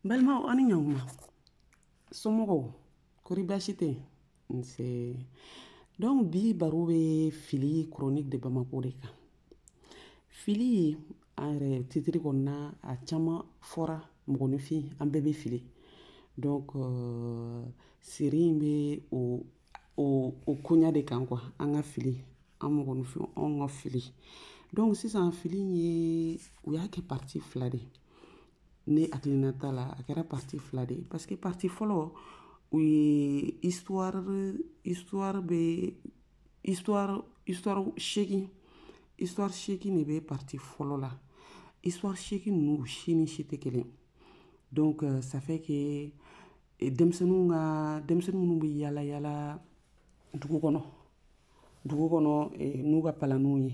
n balimaw aw ni ɲankuma somɔgɔw kori baasi tɛ nse donc bi baro bɛ fili chronique de bamako de kan fili a yɛrɛ titiri kɔnɔna a caman fɔra mɔgɔninfin an bɛɛ bɛ fili donc euh, série in bɛ o o o koɲa de kan quoi an ka fili an mɔgɔninfin anw ka fili donc sisan fili in ye u y'a kɛ parti fila de ye ne hakilina ta la a kɛra parti fila de ye parce que parti fɔlɔ u ye histoire histoire bɛ histoire histoire seegin histoire seegin de bɛ parti fɔlɔ la histoire seegin ninnu si ni si tɛ kelen donc euh, ça fait que eh, denmisɛnninw ka denmisɛnnin minnu bɛ yaala yaala dugu kɔnɔ dugu kɔnɔ eh, n'u ka palanninw ye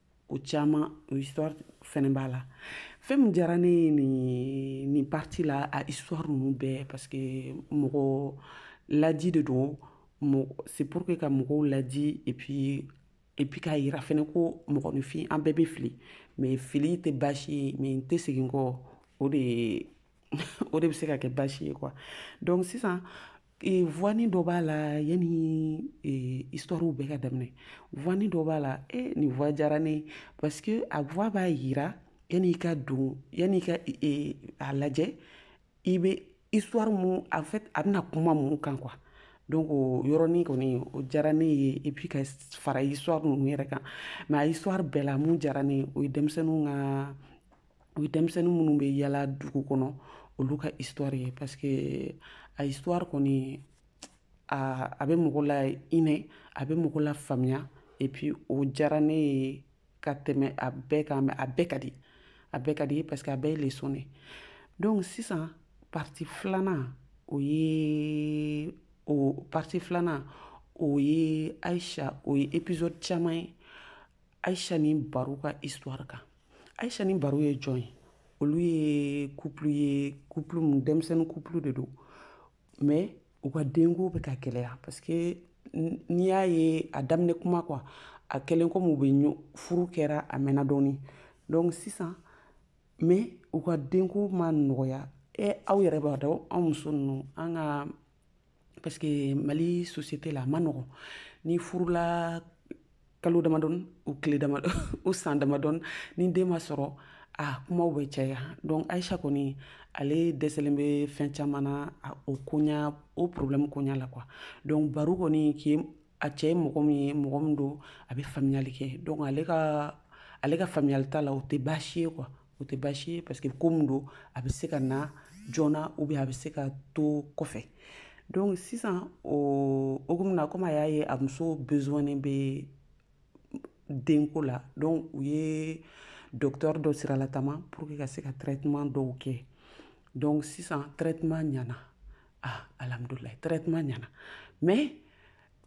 ko caman o histoire fɛnɛ b'a la fɛn min diyara ne ye nin nin parti la a histoire ninnu bɛɛ parce que mɔgɔ laji de don c'est pour que ka mɔgɔw laji et puis et puis k'a yira fɛnɛ ko mɔgɔninfin an bɛɛ bɛ fili mais fili tɛ baasi ye mais n tɛ segin kɔ o de o de bɛ se ka kɛ baasi ye quoi donc sisan e, voix nin dɔ b'a la yanni e, histoire bɛɛ ka daminɛ voix nin dɔ b'a la e nin voix diyara ne parce que a voix b'a yira yanni i ka don yanni i ka e, a lajɛ i bɛ histoire mun en fait a bɛna kuma mun kan quoi donc o yɔrɔnin kɔni o diyara ne ye et puis ka fara histoire ninnu yɛrɛ kan mais a histoire bɛɛ la min diyara ne ye o ye denmisɛnninw ka o ye denmisɛnnin minnu bɛ yaala dugu kɔnɔ olu ka histoire ye parce que a histoire kɔni a a bɛ mɔgɔ lahinɛ a bɛ mɔgɔ lafaamuya et puis o diyara ne ye ka tɛmɛ a bɛɛ kan mais a bɛɛ ka di a bɛɛ ka di parce que a bɛɛ ye leçon de donc sisan parti filanan o ye o parti filanan o ye aisha o ye épisode caman ye aisha ni baro ka histoire kan aisha ni baro ye jɔn ye olu ye couple ye couple mun denmisɛnnin couple de don mais u ka denko bɛ ka gɛlɛya parce que n'i y'a ye a daminɛ kuma quoi a kɛlen comme u bɛ furu kɛra a mɛnna dɔɔni donc sisan mais u ka denko ma nɔgɔya e aw yɛrɛ b'a dɔn anw muso ninnu an ka parce que mali société la a ma nɔgɔn n'i furula kalo damadɔni ou tile damadɔ ou san damadɔni ni den ma sɔrɔ a kumaw bɛ caya donc aisha kɔni ale dɛsɛlen bɛ fɛn caman na o koɲa o problème koɲa la quoi donc baro kɔni k'i a cɛ ye mɔgɔ min ye mɔgɔ min don a bɛ faamuyali kɛ donc ale ka ale ka faamuyali ta la o tɛ baasi ye quoi o tɛ baasi ye parce que ko min don a bɛ se ka na joona ou bien a bɛ se ka to kɔfɛ donc sisan o hokumu na komi a y'a ye a muso besoin bɛ denko la donc u ye docteur dɔ siralatama pour que ka se ka traitement dɔw kɛ donc sisan traitement ɲana ah alhamdulilayi traitement ɲana mais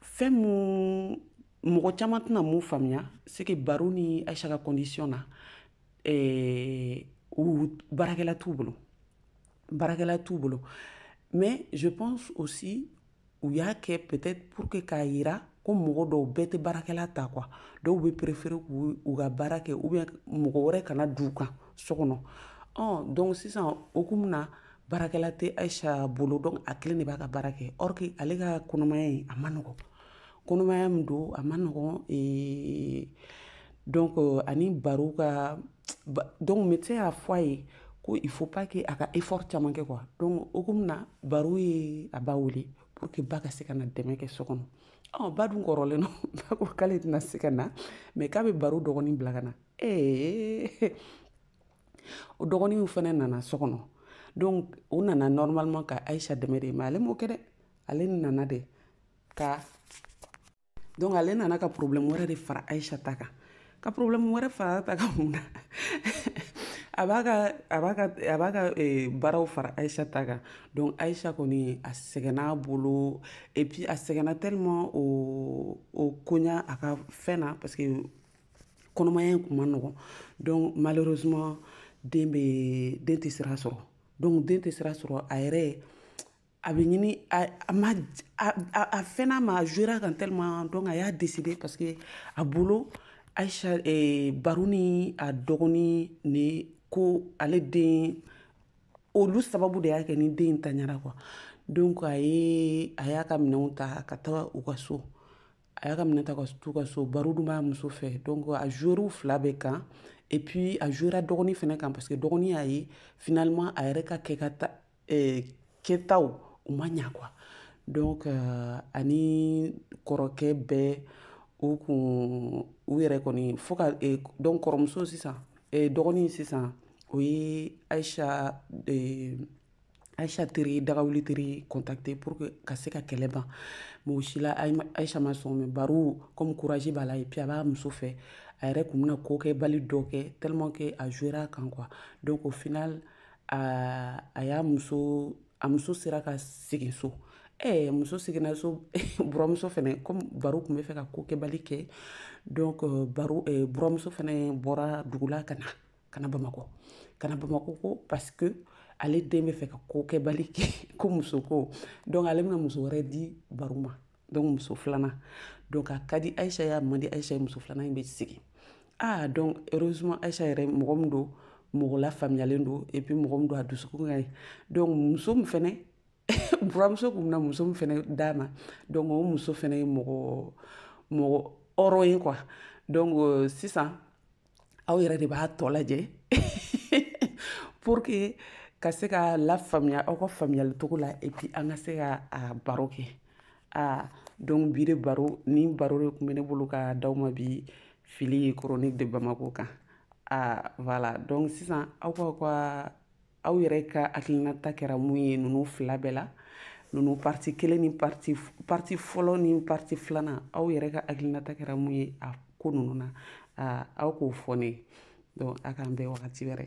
fɛn mun mɔgɔ caman tɛna mun faamuya c'est que baro ni Aïcha ka condition na eh, ou baarakɛla t'u bolo baarakɛla t'u bolo mais je pense aussi u y'a kɛ peut-être pour que k'a yira ko mɔgɔ dɔw bɛɛ tɛ baarakɛla ta quoi dɔw bɛ préférer k'u u ka baara kɛ ou bien mɔgɔ wɛrɛ kana d'u kan so kɔnɔ ɔ donc sisan hokumu na baarakɛla tɛ Aïcha bolo donc a kelen de b'a ka baara kɛ or que ale ka kɔnɔmaya in a man nɔgɔ kɔnɔmaya min don a man nɔgɔn eh, donc euh, ani baro ka donc médecin y'a fɔ a ye ko il faut pas que a ka effort caman kɛ quoi donc hokumu na baro ye a ba wele pour que ba ka se ka na dɛmɛ kɛ so kɔnɔ ɔ ba dun kɔrɔlen don ba ko k'ale tɛna se ka na mais k'a bɛ baro dɔgɔnin bila ka na ee eh, o dɔgɔnin fana nana so kɔnɔ donc o nana normalement ka Aïcha dɛmɛ de mais ale m'o kɛ dɛ ale nana de ka donc ale nana ka problème wɛrɛ de fara Aïcha ta kan ka problème wɛrɛ fara ta kan mun na a b'a ka a b'a ka a b'a ka eh, baaraw fara Aïcha ta kan donc Aïcha kɔni a sɛgɛnna a bolo et puis a sɛgɛnna tellement o o koɲa a ka fɛn na parce que kɔnɔmaya in kun man nɔgɔn donc malheureusement den bɛ den tɛ sira sɔrɔ donc den tɛ sira sɔrɔ a yɛrɛ a bɛ ɲini a ma a fɛnna a ma jouera kan tellement donc a y'a décider parce que a bolo Aïcha eh, Baru ni a dɔgɔnin ni ko ale den olu sababu de y'a kɛ ni den in taɲara quoi donc a ye a y'a ka minɛnw ta ka taa u ka so a y'a ka minɛn ta ka t'u ka so Baru dun b'a muso fɛ donc a jouera u fila bɛɛ kan et puis a jouera dɔgɔnin fɛnɛ kan parce que dɔgɔnin y'a ye finalement a yɛrɛ ka kɛ ka ta eh, kɛtaw u ma ɲa quoi donc euh, ani kɔrɔkɛ bɛɛ u kun u yɛrɛ kɔni fo ka eh, donc kɔrɔmuso sisan eh, dɔgɔnin sisan o ye Aïcha eh, Aïcha teri dagawuli teri contacter pour que ka se ka kɛlɛ ban mais o si la Aïcha ma sɔn mais baro comme courage b'a la et puis a b'a muso fɛ a yɛrɛ kun bɛna kokɛbali dɔ kɛ tellement que a jouera kan quoi donc au final aa a y'a muso a muso sera ka segin so ɛɛ eh, muso seginna so buramuso fɛnɛ comme baru kun bɛ fɛ ka ko kɛbali kɛ donc euh, baru eh, buramuso fɛnɛ bɔra dugula ka na ka na bamakɔ ka na bamakɔ ko parce que ale den bɛ fɛ ka ko kɛbali kɛ ko muso ko donc ale bɛna muso wɛrɛ di baru ma donc muso filanan donc a ka di ayisa y'a man di ayisa ye muso filanan in bɛ sigi ah donc heureusement ayisa yɛrɛ mɔgɔ min don mɔgɔ lafaamuyalen don et puis mɔgɔ min don a dusukun ka ɲi donc muso min fɛnɛ buramuso kun bɛna muso min fɛnɛ d'a ma donc o muso fɛnɛ ye mɔgɔ mɔgɔ hɔrɔn ye quoi donc euh, sisan aw yɛrɛ de b'a tɔ lajɛ pour que ka se ka lafaamuya aw ka faamuyali cogo la et puis an ka se ka a baro kɛ aa donc bi de baro ni baro de kun bɛ ne bolo ka d'aw ma bi film chronique de bamako kan aa voilà donc sisan aw ka ka aw yɛrɛ ka hakilinata kɛra mun ye ninnu fila bɛɛ la ninnu parti kelen ni parti fɔlɔ ni parti filanan aw yɛrɛ ka hakilinata kɛra mun ye a ko ninnu na aw k'o fɔ ne ye donc a k'an bɛn wagati wɛrɛ